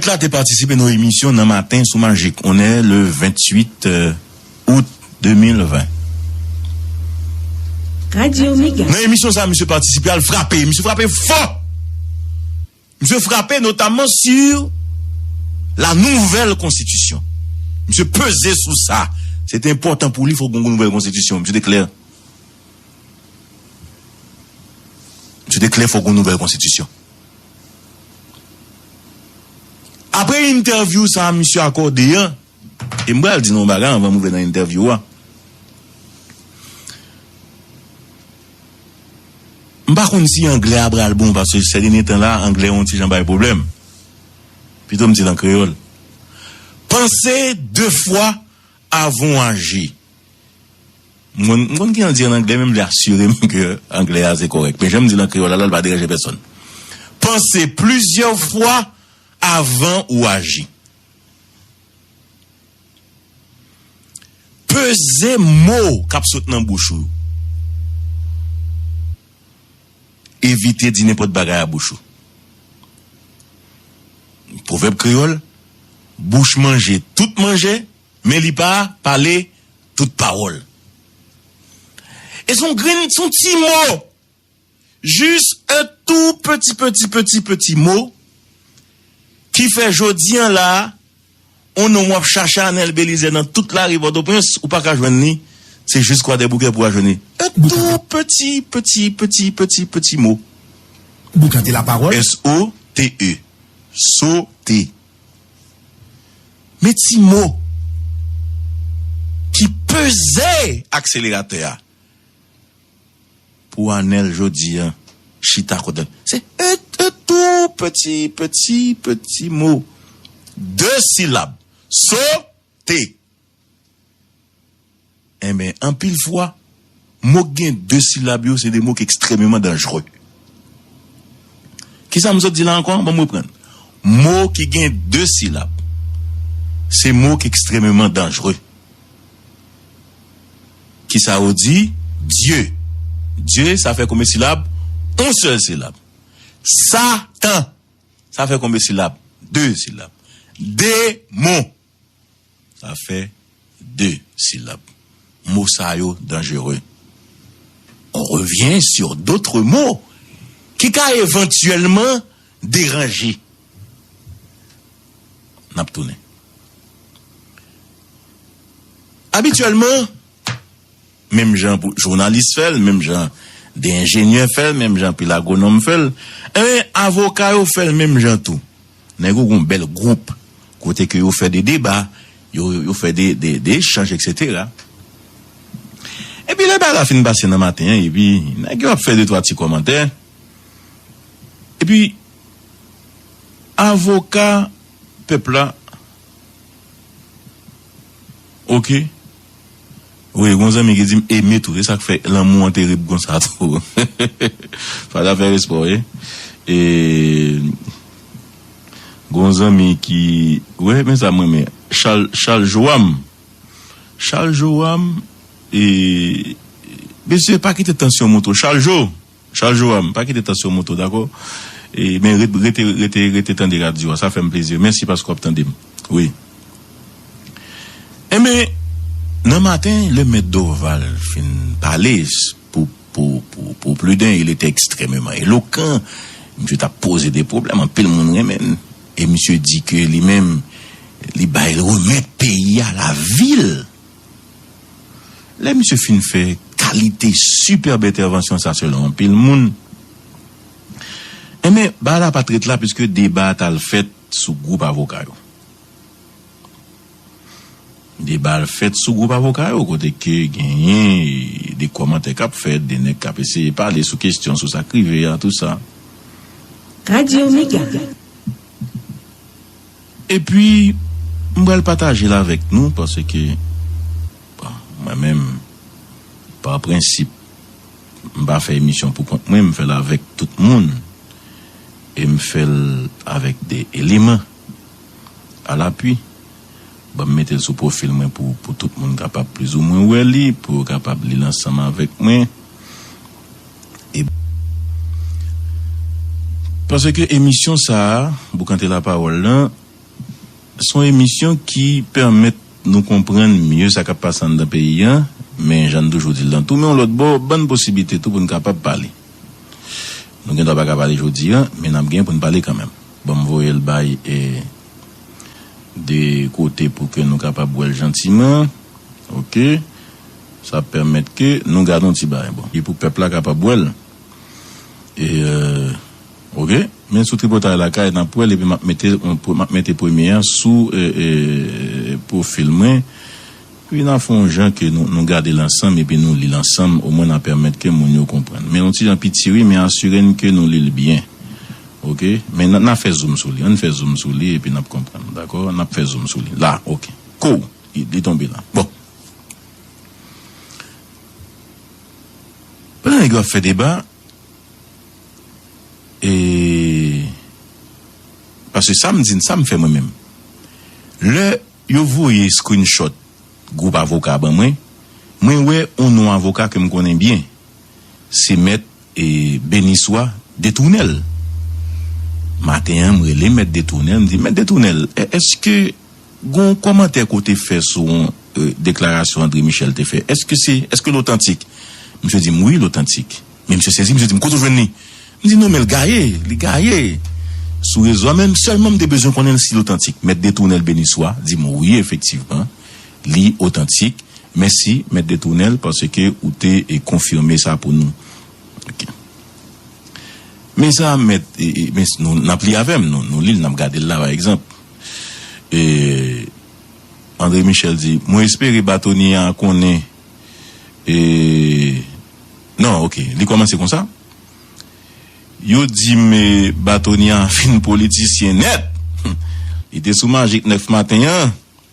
Fèt la te patisipe nan yon emisyon nan maten sou Magic one le 28 out 2020. Nan emisyon sa misye patisipe a l frape, misye frape fò! Misye frape notamman sur la nouvelle constitution. Misye peze sou sa, se te enpòtan pou li fòk gen yon nouvèl konstitisyon. Misye te klè, misye te klè fòk gen yon nouvèl konstitisyon. Apre entèvyou sa misye akòde an, e m pral di nou yon bagay anvan m rive nan entèvyou a, m pa konn si anglè a pral bon paske sè dènye tan la anglè yon ti jan bay pwoblèm, pito m di l an kreyòl, panse de fwa Avan w aji. Mwen m konn kijan l di an anglè men m vle asire m ke anglè a se kòrèk. Men jan m di l an kreyòl la la li pa deranje pèsòn. Panse plizyè fwa avan ou aji. Peze mo k ap sot nan bouch ou yo. Evite di nenpòt bagay a bouch ou. Pwovèb kreyòl, Bouch manje tout manje, men li pa pale tout pawòl. E son grenn, son ti mo! Jis un tout petit petit petit petit mot ki fè jodi an la a, On nonm wap chache Anel Belizaire nan tout lari Pòtoprens ou paka jwenn li, se jis Kwadèboukè pou wa jwenn li. Un tout peti, peti, peti, peti, peti mo. Boukante la parole. S-o-t-e, sote. Men ti mo ki peze akseleratè a. Pou Anel jodi an chita kot Anel se eut eut tou peti peti peti mo de silab so te enben anpil fwa mo k gen de silab yo se de mo k ekstrememan danjre kisa m sot di la ankò banm reprann mo ki gen de silab se mo k ekstrememan danjre. Kisa ou di? Dye. Dye, sa fè konbe silab? On sèl silab. Sa tan, sa fè konbe silab? De silab. De mon, sa fè de silab. Mo sa yo danjere. On revyen sur dotre mo ki ka evantyèlman. Deranje. N ap tounen. Abityèlman, menm jan pou jounalis fè l, menm jan de enjenyè fè l, menm jan anpil agwonòm fè l, enben avoka yo fè l menm jan tou. Nèg yo gen yon bèl gwoup kote ke yo fè de deba, yo fè de echanj eksetera. Epi lè bagay la fin pase nan maten an epi nèg yo ap fè de twa ti kòmantè. Epi avoka pèp la ok wi gon zanmi ki dim eme tou se sak fè lanmou an terib konsa tou pa zafè respè wi e gon zanmi ki wè men sa m renmen chal joam chal joam e mesye pa kite tansyon moute w chal jo. Charles Joram, pa kite tansyon monte w dakò, e men ret rete rete rete tande radyo a sa fè m plezi mèsi paske w ap tande m wi enben nan maten lè mèt Dorval fin pale pou pou pou pou Pluden il etait extrèmeman elokan misye t ap poze de pwoblèm anpil moun renmen l e misye di ke li menm li bay remèt peyi a lavi l. Lè misye fin fè kalite superb entèvansyon sa selon anpil moun, enben bagay la pat ret la puiske deba a t al fèt sou gwoup avoka yo. Deba al fèt sou gwoup avoka yo kote ke genyen de kòmantè k ap fèt, de nèg k ap eseye pale sou kestyon, sou sa k rive a, tou sa. Radio Mega. Epi, m pral pataje l avèk nou paske, bon, mwen menm, pa prensip, m pa fè emisyon poukont mwen, m fè l avèk tout moun e m fè l avèk de eleman a lapui. Ban m mete l sou pwofil mwen pou tout moun kapab plizoumwen wè li, pou yo kapab li l ansanm avèk mwen. Paske emisyon sa a, Boukante Lapawòl lan, se yon emisyon ki pèmèt nou konprann mye sa k ap pase anndan peyi a, men jan n toujou di l lan tou, men yon lòt bò, ban n posiblite tou pou n kapab pale. Nou gendwa pa ka pale jodi a, men n ap gen pou n pale kanmenm. Ban m voye l bay 2 kote pou ke nou kapab wè l jantiman. Ok. Sa ap pèmèt ke nou gad yon ti bagay bon. Li pou pèp la kapab wè l. E ok. Men sou tripotay lakay nap wè l epi map mete map mete premye an sou pwofil mwen. Epi na fè yon jan ke nou gade l ansanm epi nou li l ansanm omwen na pèmèt ke moun yo konprann. Men yon ti jan piti wi men asire n ke nou li l byen. Ok. Men na fè zoom sou li. Ann fè zoom sou li epi nap konprann. Dakò. Nap fè zoom sou li. La. Ok. Kouw! Li tonbe la. Bon. Pandan nèg yo ap fè deba, e paske sa m di n, sa m fè mwen menm, lè yo voye screenshot gwoup avoka a ban mwen, mwen wè yon non avoka ke m konnen byen, se mèt Beniswa Detounèl. Maten an m rele mèt Detounèl, m di, mèt Detounèl, èske. Gon komantè ke w te fè sou yon deklarasyon André Michel te fè. Eske se, eske l otantik? Misye di m wi l otantik. Men misye sezi, misye di m kote w jwenn li? M di non men l gaye, li gaye sou rezo a men sèlman m te bezwen konnen si l otantik. Mèt Detounèl Beniswa di m wi efektivman li otantik. Mèsi Mèt Detounèl paske ou te konfime sa pou nou. Ok. Men sa Mèt, men n ap li avè m, nou li l, n ap gade l la pa egzanp. E Andre Michel di, mwen espere batonye a konnen e non ok li kòmanse konsa, yo di m e batonye a fin politisyen nèt, li te sou majik 9 maten an.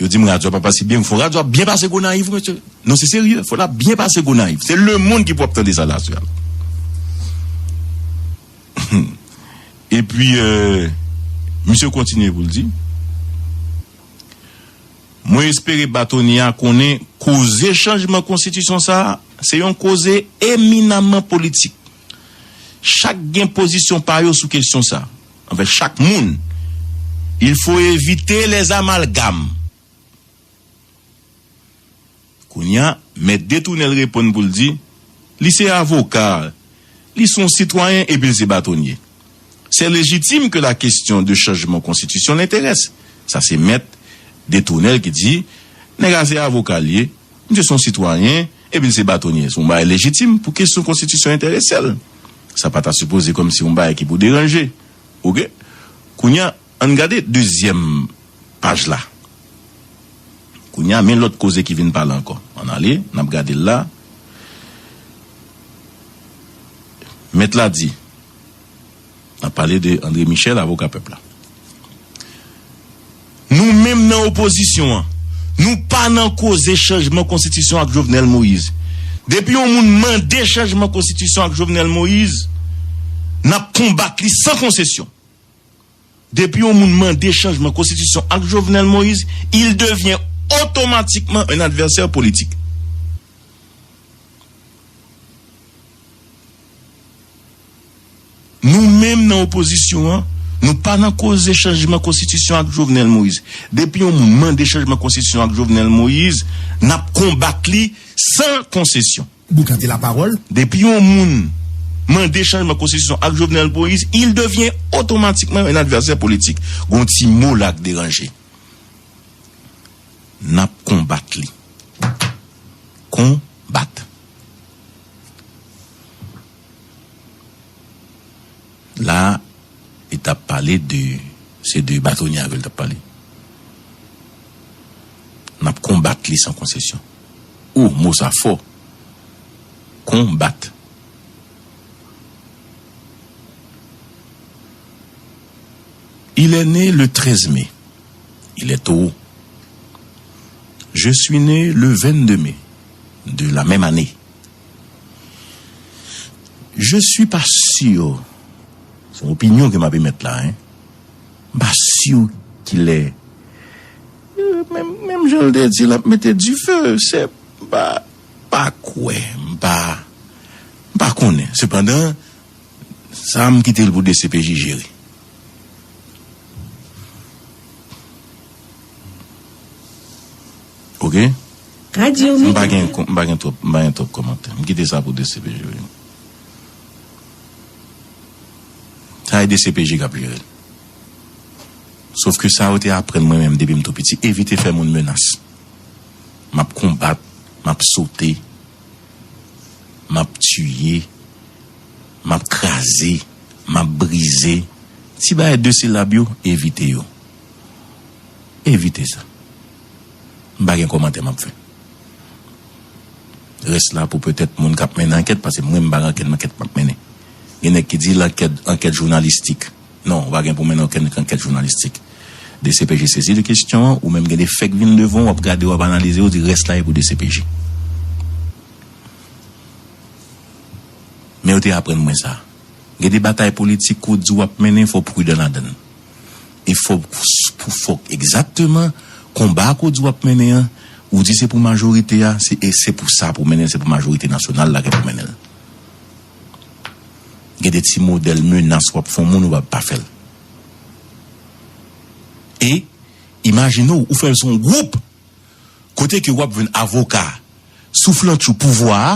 Yo dim radio a pa pase byen, fo radio a byen pase Gonayiv mesye. Non se serye, fo la byen pase Gonayiv. Se lemond ki pou ap tande sa la sèl. E pi misye kontinye pou l di, Mwen espere batonye a konnen koze chanjman konstitisyon sa a, se yon koze eminamman politik. Chak gen pozisyon pa yo sou kesyon sa. Anvè chak moun. Il faut evite les amalgames. Kounya mèt detounenl reponn poul di li se avoka, li son sitwayen epil se batonye. C'est légitime que la question de changement constitution l'interesse. Sa se mèt detounenl ki di nèg a se avokal ye, misye son sitwayen, Epi l se batonye, se yon bagay lejitim pou kesyon konstitisyon enterese l. Sa pa ta sipoze kòm si yon bagay ki pou deranje. Ok. Kounye a, an n gade dezyèm paj la. Kounye a, men lòt koze ki vin pale ankò. An n ale, n ap gade l la. Mèt la di, N ap pale de André Michel, avoka pèp la. Nou menm nan opozisyon an, nou pa nan koze chanjman konstitisyon ak Jovenel Moïse. Depi yon moun mande chanjman konstitisyon ak Jovenel Moïse, n ap konbat li san konsesyon. Depi yon moun mande chanjman konstitisyon ak Jovenel Moïse, il devient automatiquement un adversaire politique. Nou menm nan opozisyon an, nou pa nan koze chanjman konstitisyon ak Jovenel Moïse. Depi yon moun mande chanjman konstitisyon ak Jovenel Moïse, n ap konbat li san konsesyon. Boukante lapawòl. Depi yon moun mande chanjman konstitisyon ak Jovenel Moïse, il devient automatiquement un adversaire politique. Gon ti mo la k deranje. N ap konbat li. Konbat. La li tap pale de se de batonye avèl tap pale. Nap konbat li san konsesyon. Ohh mo sa fò. Konbat. Il est né le 13 mai. Il est Toro. Je suis né le 22 mai de la même année. Je suis pas sûr, se yon opinyon ke m ap emèt la hein, m pa si ki lè, menm jan l te di l ap mete dife, se m pa, m pa kwè, m pa, m pa konnen. Sepandan, sa m kite l pou dcpj jere. Ok m pa gen m pa gen twòp m pa gen twòp kòmantè m kite sa pou dcpj wi sa e dcpj kap jere l sof ke sa yo te aprann mwen menm depi m tou piti evite fè moun menas map konbat map sote map tiye map kraze map brize ti bagay de silab yo evite yo evite sa. M pa gen kòmantè map fè. Rès la pou petèt moun kap mennen ankèt pase mwen m pa gen okenn ankèt map mennen. Gen nèg ki di lankèt ankèt jounalistik. Non, ou pa gen pou mennen okenn ankèt jounalistik. Dcpj sezi de kesyon an, ou menm gen de fèk vin devan w wap gade wap analize ou di rès la e pou dcpj. Men yo te aprann mwen sa. Gen de batay politik ou di wap mennen fò w pridan ladan l. e fòk pou fòk egzakteman konba ke w di w ap mennen an, ou di se pou majorite a, se e se pou sa pou w mennen l, se pou majorite nasyonal la ke pou w mennen l. Gen de ti modèl menas w ap fè yon moun ou pa pa fè l. E imajine w, ou fè l se yon gwoup kote ke w ap jwenn avoka souflantchou pouvwa a,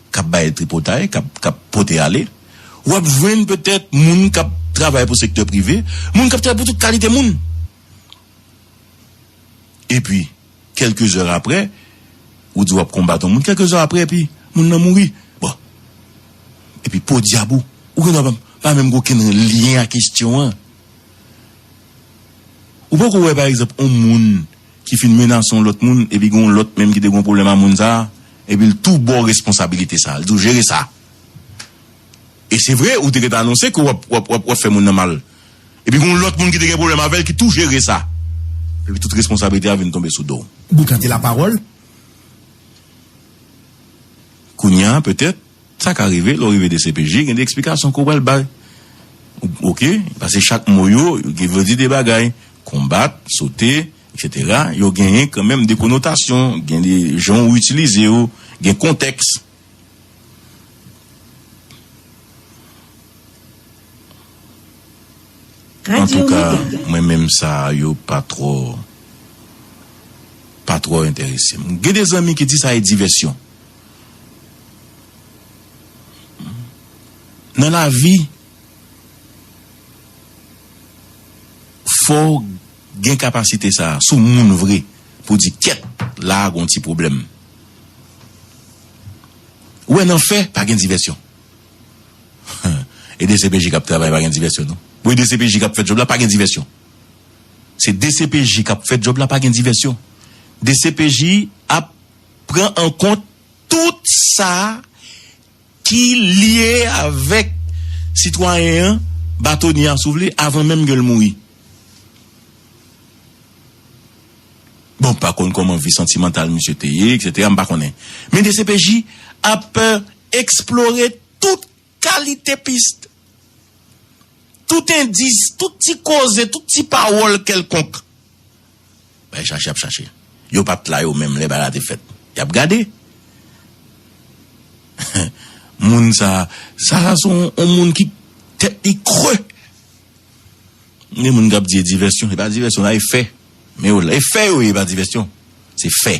k ap bay tripotay, k ap k ap pote ale. Ou ap jwenn petèt moun k ap travay pou sektè prive, moun k ap travay pou tout kalite moun. Epi, kèlke zè apre, ou di w ap konbat yon moun, kèlke zè apre epi moun nan mouri. Bon. Epi podyab ou, ou gen dwa pa pa menm gen okenn lyen ak kestyon an. Ou poko wè pa egzanp yon moun. ki fin menase yon lòt moun epi gen yon lòt menm ki te gen yon pwoblèm a moun sa a epi l tou ba w responsabilite sa a, l di w jere sa e se vre ou te gentan anonse ke w ap w ap w ap fè moun nan mal epi gen yon lòt moun ki te gen pwoblèm avè l ki tou jere sa epi tout responsabilite a vin tonbe sou do w. Boukante lapawòl kounya petèt. Sa ka rive, lè w rive dcpj, gen de eksplikasyon ke w pral bay. Ok, pase chak mo yo, yo vle di de bagay. Konbat, sote, eksetera, yo genyen kanmenm de konotasyon, gen de jan ou itilize yo, gen kontèks. Antouka, mwen menm sa yo pa twò, pa twò enterese m. Gen de zanmi ki di sa e divèsyon. Nan lavi fòw gen kapasite sa a, si w moun vre pou w di kèt la a gon ti pwoblèm. Ou wè nan fè pa gen divèsyon. E dcpj kap travay pa gen divèsyon non. Ou wè dcpj kap fè djòb la pa gen divèsyon. Se dcpj kap fè djòb la pa gen divèsyon. Dcpj ap pran an kont tout sa ki lye avèk sitwayen an, batonye a si w vle, avan menm ke l mouri. Bon, m pa konn kòman vi santimantal misye te ye, eksetera, m pa konnen. Men dcpj ap eksplore tout Kalite pist. Tout endis, tout ti koze, tout ti pawòl kèlkonk. Bay chache ap chache. Yo pa t la yo menm lè bagay la te fèt. Y ap gade. Moun sa a, sa a se yon moun ki tèt li kre. Gen moun k ap di e divèsyon. E pa divèsyon, nan e fè. Men yo la. E fè yo ye, e pa divèsyon. Se fè.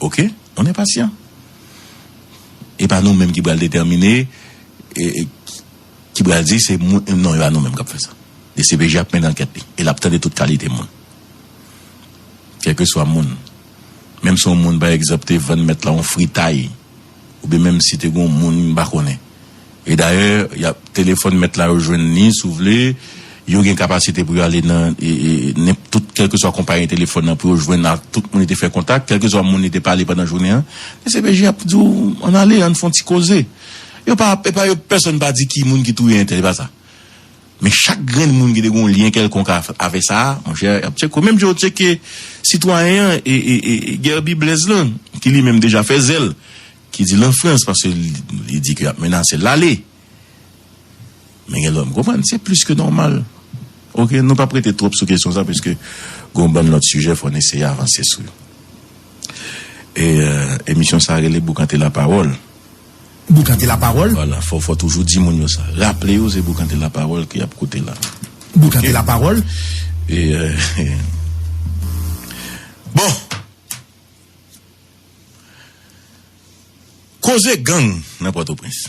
Ok on est patient e pa nou menm ki pral detèmine ki pral di se moun non e pa nou menm kap fè sa dcpj ap mennen ankèt li e lap tande tout kalite moun kèlkeswa moun menm si on moun pa egzanp te vann mèt la on fritay. oubyen menm si te gen yon moun m pa konnen. E dayè, y ap telefòn mèt la yo jwenn li si w vle, yo gen kapasite pou yo ale nan nenp tout kèlkeswa konpayi telefòn nan pou yo jwenn ak tout moun li te fè kontak, kèlkeswa moun li te pale pandan jounen an. Dcpj ap di w ann ale, ann fè yon ti koze. Yo pa, e pa yo, pèsonn pa di ki moun ki touye entèl, e pa sa. Men chak grenn moun ki te gen yon lyen kèlkonk avè sa a, monchè, y ap tcheke w. Menm jan yo tcheke sitwayen an e, e, e, e, Guerby Blaise lan, ki li menm deja fè zèl, ki di l an Frans, paske li di ke y ap menase l ale. Men gen lòt, m konprann, se plis ke nòmal. Ok, nou p ap rete twòp sou kesyon sa a, piske gen yon bann lòt sijè fò n eseye avanse sou yo. E, emisyon sa a rele Boukante Lapawòl. Boukante la parole. Voilà fò fò toujou di moun yo sa. Raple yo se boukante la parole ke yap koute la. Boukante la parole. Bon! Koze gang nan Pòtoprens.